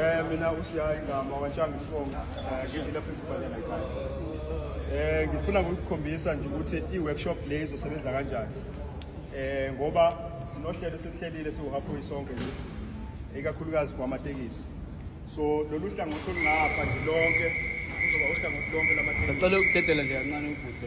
Eh mina usiyayi ngama wantshanga isibongo eh, ngivile principal yena ekhaya. Eh ngifuna ukukhombisa nje ukuthi i-workshop le izosebenza kanjani. Eh ngoba sinohlelo esihlelile siwuhaphoyi sonke nje ikakhulukazi kwamatekisi. So lolu hlangothi olungapha nje lonke kuzoba uhlangothi lonke lamatekisi. Sacela ukudedela nje kancane ubhuti.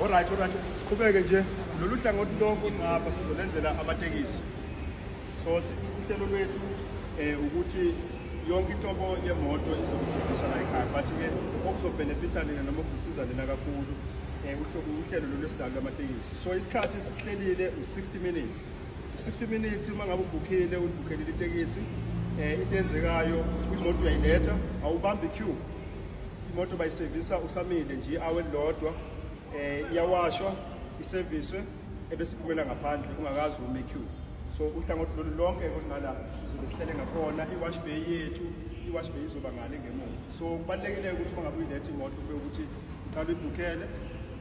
Alright, alright, siqhubeke nje lolu hlangothi lonke olungapha sizolenzela amatekisi so uhlelo lwethu um ukuthi yonke inhlobo yemoto izokusebenzisa la ekhaya but-ke okuzobhenefitha nina noma okuzosiza nina kakhulu um uhlelo lolu esidalo lamatekisi so isikhathi sisihlelile u-60 minutes 60 minutes uma ngabe ubhukhile ulibhukhele itekisi eh into enzekayo imoto uyayiletha awubambi queue imoto bayisevisa usamile nje awe lodwa eh iyawashwa iserviswe ebesiphumela ngaphandle ungakazi ume queue so uhlangothi lolu lonke kunqala sizobe sihlele ngakhona i-wash bay yethu i-wash bay izoba ngale ngemuva so kubalulekile ukuthi uma ngabe uyiletha imoto kube ukuthi uqala uyibhukhele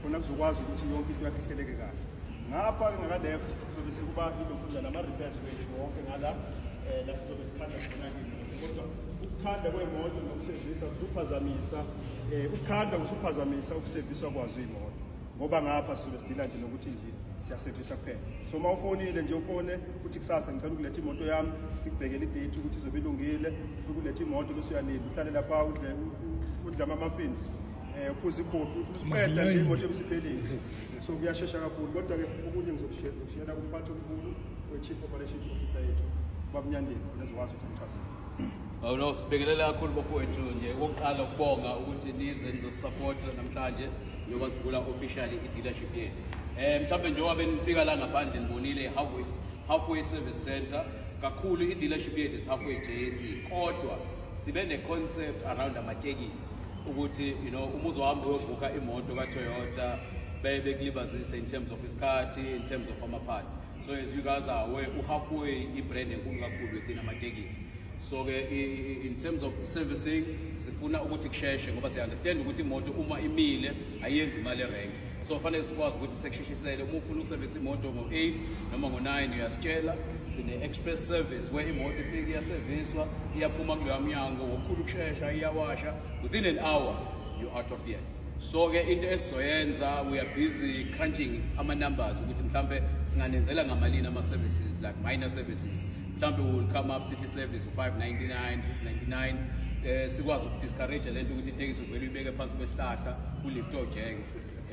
khona kuzokwazi ukuthi yonke into yakhe ihleleke kahle ngapha ke ngaka-left kuzobe sekuba ilokudla nama-repairs wethu wonke ngala um eh, la sizobe sikhanda khona kodwa ukukhanda kwemoto nokusevisa kusuphazamisa um eh, ukukhanda kusuphazamisa ukuseviswa kwazo iy'moto ngoba ngapha sizobe sidila nje nokuthi nje siyasevisa kuphela so uma ufonile nje ufone ukuthi kusasa ngicela ukuletha imoto yami sikubhekele idate ukuthi izobe ilungile ufike uletha imoto bese uyalinda uhlale lapha udle udle ama-muffins eh uphuza ikhofi uthi usuqeda nje imoto ebisiphelile so kuyashesha kakhulu kodwa ke okunye ngizokushela kumphathi omkhulu we-chief operations officer yethu babnyandeni nezokwazi ukuthi ngichazele awuno sibhekelele kakhulu bafowethu nje okokuqala ukubonga ukuthi nize nizosisapota namhlanje njengoba sivula officially i-dealership yethu um mhlawumbe njengoba benifika la ngaphandle nibonile i-halfway halfway service center kakhulu i-dealership yethu is halfway jc kodwa sibe ne-concept around amatekisi ukuthi you know uma uzohamba uyobhukha imoto ka-toyota beye bekulibazise in terms of isikhathi in terms of amaphathi so as you guys are aware u-halfway i-brand enkulu kakhulu within amatekisi so-ke in terms of servicing sifuna ukuthi kusheshe ngoba siya-understand ukuthi imoto uma imile ayenzi imali erenke so fanele sikwazi ukuthi sekushishisele uma ufuna ukusevisa imoto ngo-8 noma ngo-9 uyasitshela sine-express service where imoto ifike iyaseviswa iyaphuma kuloya mnyango ngokukhulu ukushesha iyawasha within an hour you out of here so ke into esizoyenza we are busy crunching ama-numbers ukuthi mhlawumbe singanenzela ngamalini ama-services like minor services mhlawumbe we will come up city service u-599 699 um eh, sikwazi ukudiscourage le nto ukuthi itekisi uvele uyibeke phansi kwesihlahla ulifte ojeke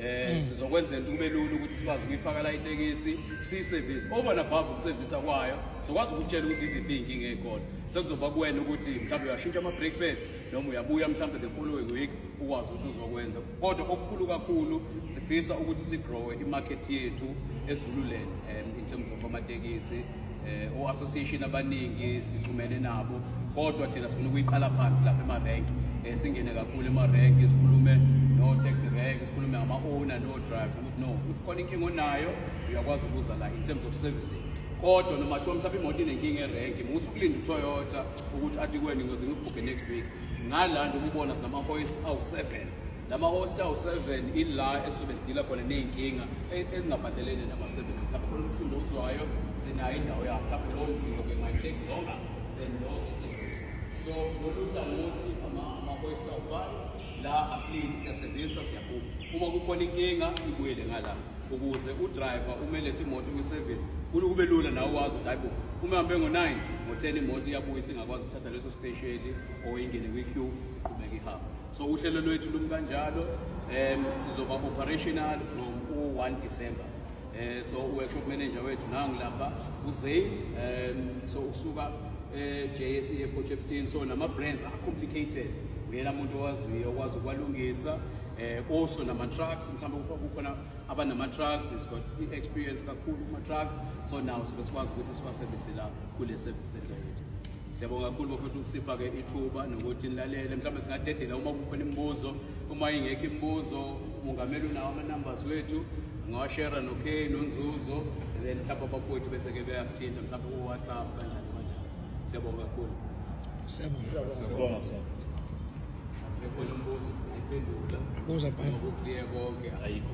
eh mm. sizokwenzela ukuthi kube lula ukuthi sikwazi ukuyifaka la itekisi siyiservice over and above ukusevisa kwayo sokwazi ukutshela ukuthi iziphi inkinga ekhona sekuzoba kuwena ukuthi mhlawumbe uyashintsha ama brake pads noma uyabuya mhlawumbe the following week ukwazi ukuthi uzokwenza kodwa okukhulu kakhulu sifisa ukuthi sigrowe imarket yethu ezululeni um in terms of amatekisi eh, o-association abaningi sixhumene nabo kodwa thina sifuna ukuyiqala phansi lapha emarenk um eh, singene kakhulu emarenk sikhulume no-taxi rank sikhulume ngama-owner no-drive ukuthi no if khona inkinga onayo uyakwazi ukuza la in terms of servicing kodwa noma kuthiwa mhlawumbe imoto inenkinga erenki musa ukulinda utoyota ukuthi athi kweni ngoze ngikubhubhe next week ngala nje ukubona sinama-hoist awu-seven lama host awu-seven ila esuke sidila khona ney'nkinga e- ezingaphathelene nama-services lapho khona umsindo uzwayo sinayo indawo yakho lapho lowo msindo ke ungayi-check longer than those osedlisa so lolu hlangothi ama- ama-host awu-five la asilindi siyasevisa siyaphuma uma kukhona inkinga ibuyele ngala ukuze udriver umelethe imoto kwisevisi kulu kube lula nawe ukwazi ukuthi hayibo uma hambe ngo-nine ngo-ten imoto iyabuya isingakwazi ukuthatha leso spesheli or ingene kwi-q qhubeka ihambe so uhlelo lwethu lumi kanjalo um sizoba operational from u-1 december um so u-workshop manager wethu nangu lapha uzain um so usuka e-js eh, e-port epstein so nama-brands acomplicated uyena muntu owaziyo okwazi ukwalungisa um also nama-trucks mhlawumbe kukhona abanama-trucks is got i-experience kakhulu kuma-trucks so nawo sobe sikwazi ukuthi siwasevise la kule service center yethu Siyabonga kakhulu bafowethu ukusipha-ke ithuba nokuthi nilalele. Mhlawumbe singadedela uma kukhona imibuzo, uma ingekho imibuzo, umongameli unawo ama-numbers wethu, ungawashera no-Kay nonzuzo, then mhlawumbe abafowethu bese-ke beyasithinta mhlawumbe ku-WhatsApp kanjani kanjani. Siyabonga kakhulu. Siyabonga. Bekhona umbuzo singayiphendula. Buza bani? Ngokuclear konke ayikho.